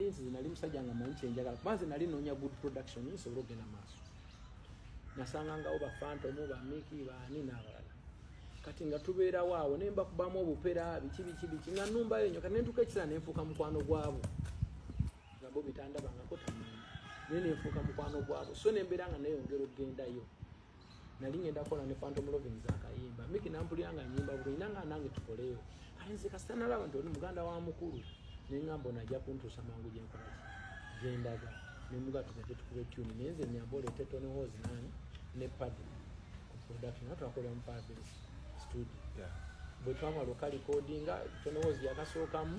nze nali musajja nga manyi kyenjagala kuba nze nali noonya good production nsobole okugenda maaso nasangangawo bafantomu bamiki baani n'abalala kati nga tubeerawo awo ne mbakubamu obupera biki biki biki nga numbayo nyo kati nentuuka ekiseera nenfuuka mukwano gwabo nga bo bitandabangako tamanyi naye nenfuuka mukwano gwabo so nembeera nga neyongera okugendayo nali ngenda kola ne phantom loving za kayimba miki nampulira nga nyimba bwe ina nga nange tukoleyo kale nze kasita nalaba nti oli muganda wa mukulu ne ngamba ono ajja kuntuusa mangu gye nkola ki gye ndaga ne muga tugende tukube tuni naye nze nyamba oleete tony hos nani ne padi ku production naye twakolera mu paradise studio yeah. bwe twamala okalikodinga tonowoozi yakasookamu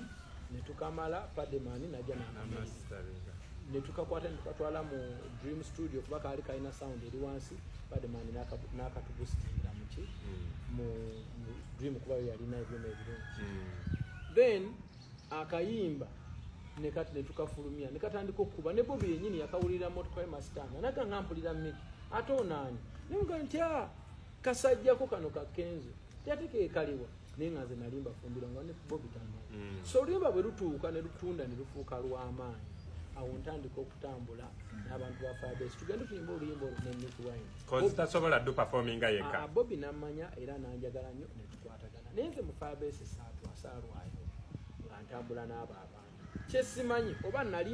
ne tukamala pademani najja nanamasitaringa ne tukakwata ne tukatwala mu dream studio kuba kaali kalina sound eri wansi pademani n'akatubusitira muki hmm. mu dream kuba yo yalina ebyuma ebirungi hmm. then akayimba ne kati ne tukafulumya ne katandika okukuba ne bobi yennyini yakawulira motoka ye masitanga naga nga mpulira miki ate onaani ne mugamba nti a ah, kasajjako kano ka kenzo teyate kekaliwa naye nga nze nali mbafumbira nga ne bobi tano mm. so oluyimba bwe lutuuka ne lutunda ne lufuuka lw'amaanyi awo ntandika okutambula n'abantu ba fabes tugende tuyimba oluyimba olwo ne nick winetasobola du performinga yeka ah, bobi namanya era nanjagala nnyo ne tukwatagana naye nze mu fabes saatwasaalwayo nga ntambula n'abo abantu kyesimanyi oba nali